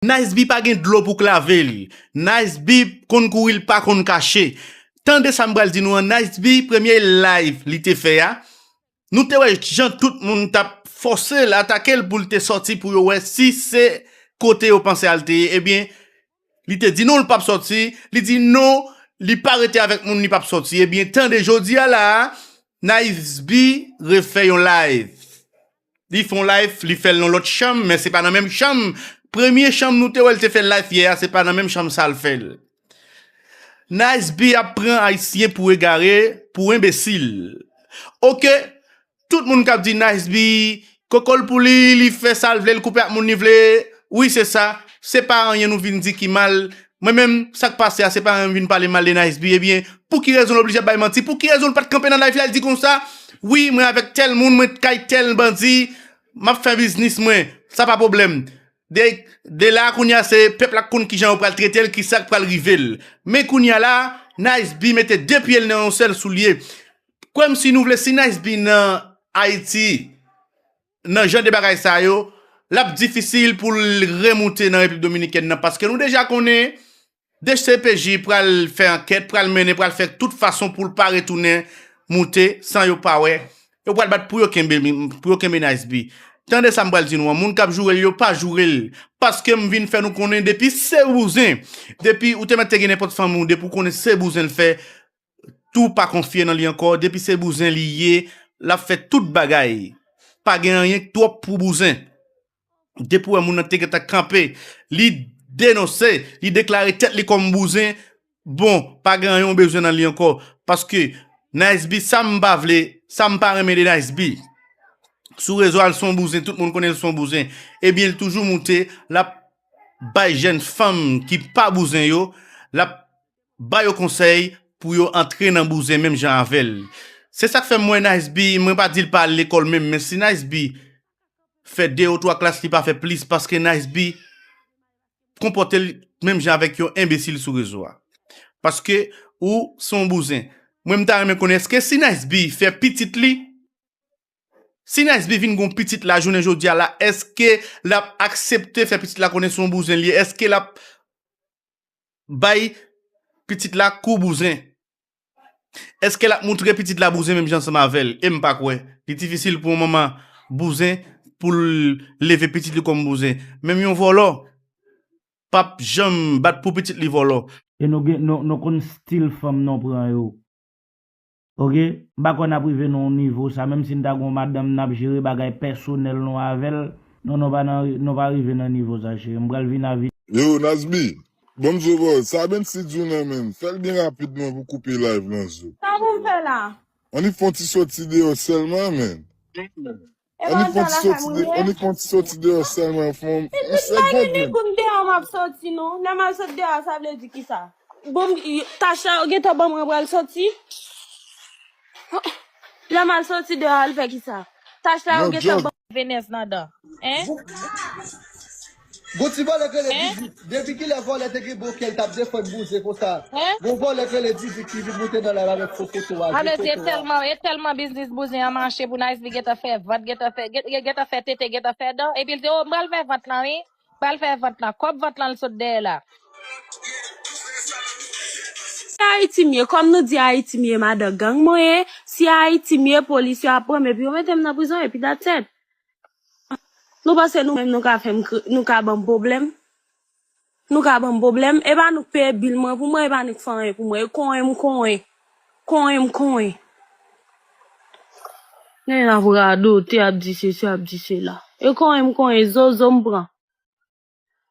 Nice B pa gen dlo pou k lave l Nice B konn kouri l pa konn kache Tande sa m pral di nou an Nice B premye live li te fè a nou te wè jan tout moun t ap fòse l atake l pou l te sòti pou yo wè si se kote yo panse al te ye ebyen li te di nou l p ap sòti li di nou li pa rete avèk moun li p ap sòti ebyen tande jodi a la a Nice B refè yon live. Li fon life li fèl nan lòt chanm men se pa nan menm chanm premye chanm nou te wèl te fè life yè a se pa nan menm chanm sal fèl Nice B ap pran ayisyen pou egare pou enbesil ok tout moun kap di Nice B kokol pou li li fè sal vle li koupe ak moun li vle wi se sa se pa anyen nou vin di ki mal Mwen menm sak pase a se pa menm vin pale mal de Nice B ebyen pou ki rezon l oblije ap bay manti pou ki rezon l pat kanpe nan live li al di konsa wi mwen avèk tèl moun mwen t kay tèl bandi map fè biznis mwen sa pa pwoblèm de de la kounya se pèp la k konn kijan yo pral trete l kisak pral rive l men kounya la Nice B mete de pye l nan yon sèl soulye kwè m si nou vle si Nice B nan Ayiti nan jan de bagay sa yo, l ap difisil pou l remoute nan Repiblik Dominikèn nan paske nou deja konnen dcpj pral fè ankèt, pral mennen, pral fè tout fason pou l pa retounen moute san yo pa wè. Yo pral bat pou yo kenbe li, pou yo kenbe Nice B. Tande sa m pral di nou an, moun k ap joure l yo pa joure l paske m vin fè nou konnen depi se bouzen, depi ou te mèt te gen nenpòt fanmi w, depi w konnen se bouzen l fè, tou pa konfye nan li ankò depi se bouzen li ye lap fè tout bagay pa gen anyen k twòp pou bouzen depi w wè moun nan te gentan kanpe li denonse li deklare tèt li kòm bouzen bon pa gen anyen w bezwen nan li ankò paske Niceby sa m pa vle sa m pa renmen de Niceby sou rezo a l son bouzen tout moun konnen l son bouzen ebyen l toujou moute lap bay jèn fanm ki pa bouzen yo lap Ba yo konsèy pou yo antre nan bouzen menm jan avèl. Se sak fè m wè Nice-B, mwen pa di l pa al lekòl menm men si Nice-B fè 2 ou 3 klas li pa fè plis paske Nice-B konpòte l menm jan avèk yon enbesil sou rezo a. Paske ou se yon bouzen. Mwen m ta renmen konnen eske si Nice-B fè pitit li, si Nice-B vin gen yon pitit la jounen jodi a la eske l ap aksepte fè pitit la konnen se yon bouzen li ye? Eske l ap bay pitit la kou bouzen. Eske lap moutre pitit la bouzen menm jan ansanm avèl? Em pa kwè. Li difisil pou yon manman bouzen poul leve pitit li kòm bouzen. Menm yon vòlò pap janm bat pou pitit li vòlò. E nou gen nou konn stil fanm nou pran yo. Ok m pa kwè nap rive nan yon nivo sa menm si n ta gen yon madanm nap jere bagay pèsonèl nou avèl non non pa nan non pa rive nan nivo sa cheri m pral vin avin. Yo Nasby Bon m zo baww sa Ben si diw nan menm fèl byen rapid man pou koupe live lan zo. Sa pou m fè la? Annik fon ti soti deyò sèlman man. Epa Annik antre konti lakay soti moun de, ye? annik konti soti deyò sèlman fòm m Epi m pa gen segonn. dekoum deyò m ap soti non. Lè m al sot deyò a sa vle di kisa? Bon m y- tach la yo gentan ban mwen pral soti? Lè m al soti deyò al fè kisa? Tach la yo Yon gentan jòj. ban Venez ladan. Hein? Gon ti vòlè k rele Hein? Didik, depi kilè vòlè te gen bon kè l t ap defann bouzen konsa? Hein? Gon vòlè k rele Didik ki vin moute nan lari avèk fo foto a, vye Alòs e foto a. tèlman, e tèlman biznis bouzen an mache pou Nice li gentan fè vant, gentan fè, gen, gen, gentan fè tete, gentan fè dan, epi l di oh m pral fè vant lan wi, m pral fè vant lan, kòb vant lan l sot dèyè la. Si Ayiti m ye, kòm nou di Ayiti m ye madan gang mwen ye, si Ayiti m ye polis yo ap pran m epi yo mete m nan prizon epi that's it. Nou panse nou menm nou ka fèm kri, nou ka banm pwoblèm? Nou ka banm pwoblèm? E pa nou k peye bil mwen pou mwen, e pa nou k fè anyen pou mwen. E konyen m konyen. Konyen m konyen. Nèg la ap radote, ap di sesi, ap di sela. E konyen m konyen, zozo m pran.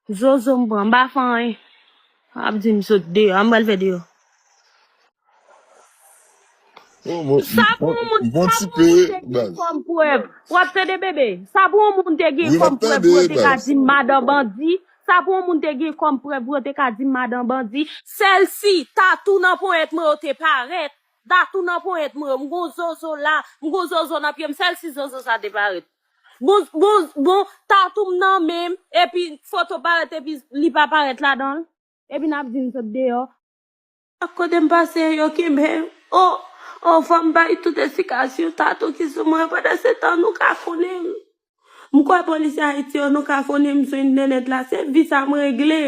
Zozo m pran, m pa fè anyen. Ap di m sot deyò, an m pral fè deyò. Sa pou yon moun te gen kòm prèv? W ap tande bebe? Sa pou yon moun te gen kòm prèv pou yo te ka di m madan bandi? Sa pou yon moun te gen kòm prèv pou yo te ka di m madan bandi? Sèl si tatou nan ponyèt mwen yo te parèt, tatou nan ponyèt mwen yo, m gen yon zozo la, m gen yon zozo nan pye m, sèl si zozo sa te parèt. Bon, bon, bon, tatou m nan men m, epi foto parèt epi li pa parèt ladan l. Epi n ap di m sot deyò. Chak kote m pase, yo kenbe m. O, o, fò m bay tout esplikasyon tatou ki sou mwen. Pandansetan, nou kafonnen m. M kwè polisye Ayiti yo, nou kafonnen m sou entènèt la. Se vi sa m regle.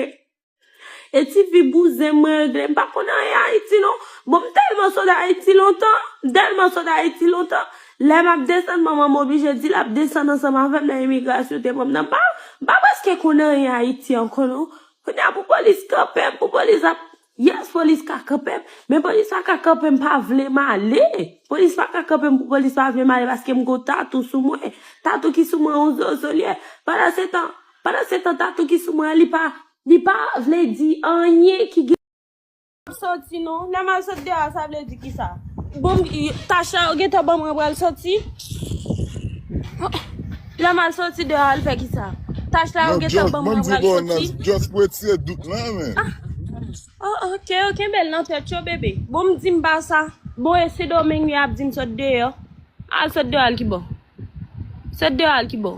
E ti fi bouzen mwen regle m pa konn anyen Ayiti non. Bon m tèlman sot Ayiti lontan, m tèlman sot Ayiti lontan, lè m ap desann manman m oblije di l ap desann ansanm avè m nan imigrasyon yo te pran m nan. M pa, m pa prèske konn anyen Ayiti ankò non. Kounye a pou polis kanpe m, pou polis ap, yes polis ka kanpe m, men polis pa ka kanpe m pa vle m ale. Polis pa ka kanpe m pou polis pa vle m ale paske m gen yon tatou sou mwen. Tatou ki sou mwen yon zozolyè. Pandansetan. Pandan se tan tatou ki sou mwen an li pa li pa vle di anyen ki gen. Map soti non lèm al sot deyò a sa vle di kisa bon tach la yo gentan banm mwen pral soti lèm al soti deyò al fè kisa tach la yo gentan banm mwen pral soti nan just nan just pou etire dout lan men oh ok yo kenbel nan tèt yo bebe bon m dim pa sa bon e sendomeng li ap dim sot deyò al sot deyò al kibò sot deyò al kibò.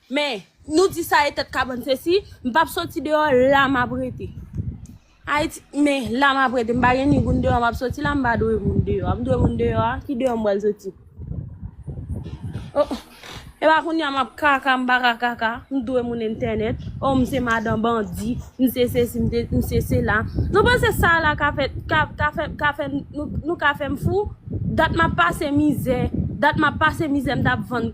Men, nou di sa e tèt kabann se si, m pap soti deyò, la m ap rete. Ayiti, men, la m ap rete, m pa gen ni moun deyò m ap soti la, m pa dwe moun deyò a. M dwe moun deyò a, ki deyò m pral soti? O, e pa kounye a m ap kaka, m pa ka kaka, m dwe moun entènèt. O, m se madan bandi, m se sesi, m se sela. Nou panse sa la ka fè, ka, ka fè, ka fè nou, nou ka fè m fou? Dat m ap pase mizè, dat m ap pase mizè m t ap vann.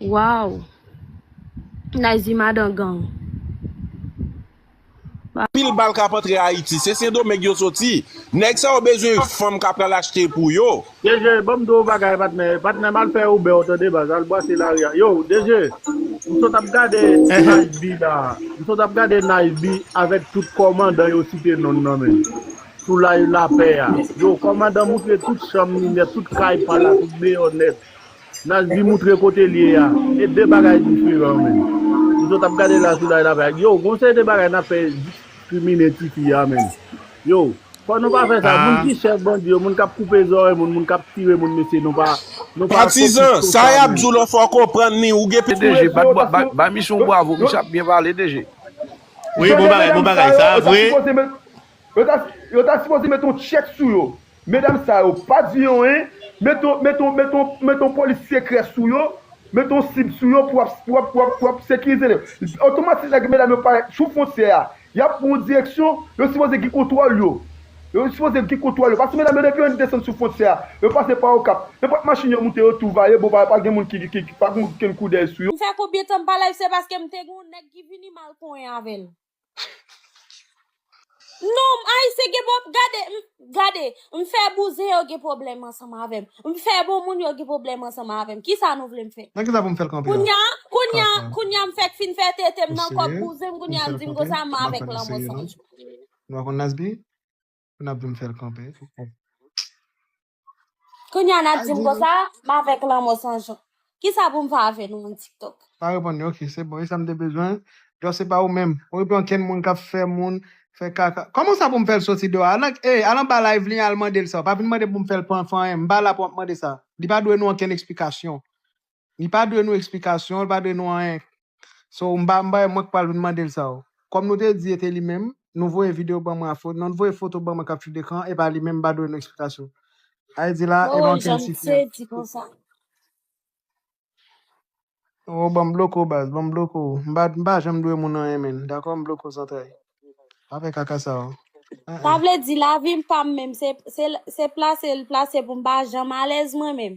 Waww Nayzi madan gang. Pil bal kap antre ayiti. Se sendomeng yo soti. Neg sa yo bezwen fanm ka pral achte pou yo. DG banm di w yon bagay patnè Patnè m al fè Uber tande baz al bwase lari a Yow DG m sot ap gade Nice B la M sot ap gade Nice B avèk tout kòmandan yo site non nan men sou live lapè a Yow kòmandan moutre tout chanm li nèt tout kay pa l la tout deyò nèt Nazli moutre kote l ye a. E de bagay diferan menn. M sot ap gade la Soulay la fè ak Yow gon seri de bagay nap fè diskrimine tifi a menn Yow fò nou pa fè sa moun ki chèf bandi yo moun kap koupe zòrèy moun moun kap tire moun mesye nou pa nou pa fokis sou sa menn. DG bay misye yon bwavo misye ap byen pale DG. Wi bon bagay bon bagay sa vre. Yo ta sipoze met yon tchek sou yo. Medam sa yo pa di yon en. Met yon polis sekrè sou yo. Met yon sib sou yo pou wap sekirize yo. Otomatik nèg medam yo parèt sou fwontyè a. Yap pran yon direksyon. Yo sipoze gen kontwòl yo. Yo sipoze gen kontwòl yo. Paske medam yo depi yon desann sou fwontyè a. Yo pase pa okap. Nenpòt machin yo moute yo tou vale. Bon pa gen moun ki pa gen koudèy sou yo. M fè konbyen tan m pa live se paske m te gen yon nèg ki vini mal konyen avèl. Non, ayisyen gen pwob, gade, m, gade, m fè bouzen yo gen pwoblèm ansanm avè m, m fè bon moun yo gen pwoblèm ansanm avè m, kisa nou vle m fè? Nan kisa pou m fè l kanpe la? Kounya, kounya, Kanpe. kounya m fèk fin fè tete m Ou nan kòk serye? bouzen m Pou m kounya fè l di m kanpe? konsa m M pa avèk konn ou lanmò serye san non. jou. Nou pa konn Nasby? Pou n ap di m fè l kanpe? Kounya nap dim konsa, m avèk lanmò san jan. Kisa pou m fè avè nou moun tiktok? Pa reponn li ok se bon e sa m te bezwen Djò se pa ou menm ou reponn ankenn moun kap fè moun fè kaka Kòman sa pou m fè l soti deyò al e al anba live li an al mande l sa pa vin mande pou m fè l pou anyen m pa la pou ap mande sa li pa dwe nou ankenn eksplikasyon Li pa dwe nou eksplikasyon, li pa dwe nou anyen. So m pa m pa mwen k pral vin mande l sa o. Kòm nou te di e te li menm, nou voye videyo ban mwen a fo non voye foto ban mwen k ap chute kan e pa li menm m pa dwe nou eksplikasyon. Ay di la e Bon manke l janm sifri te an. di konsa. Oh banm bloke w baz, banm bloke w. M pa m pa janm dwe moun anyen menn, dakò m bloke w zantray. Pa fè kaka sa o. An Sa an. vle di lavi m pa m menm se se se plase l plase pou m pa janm alèz mwen menm.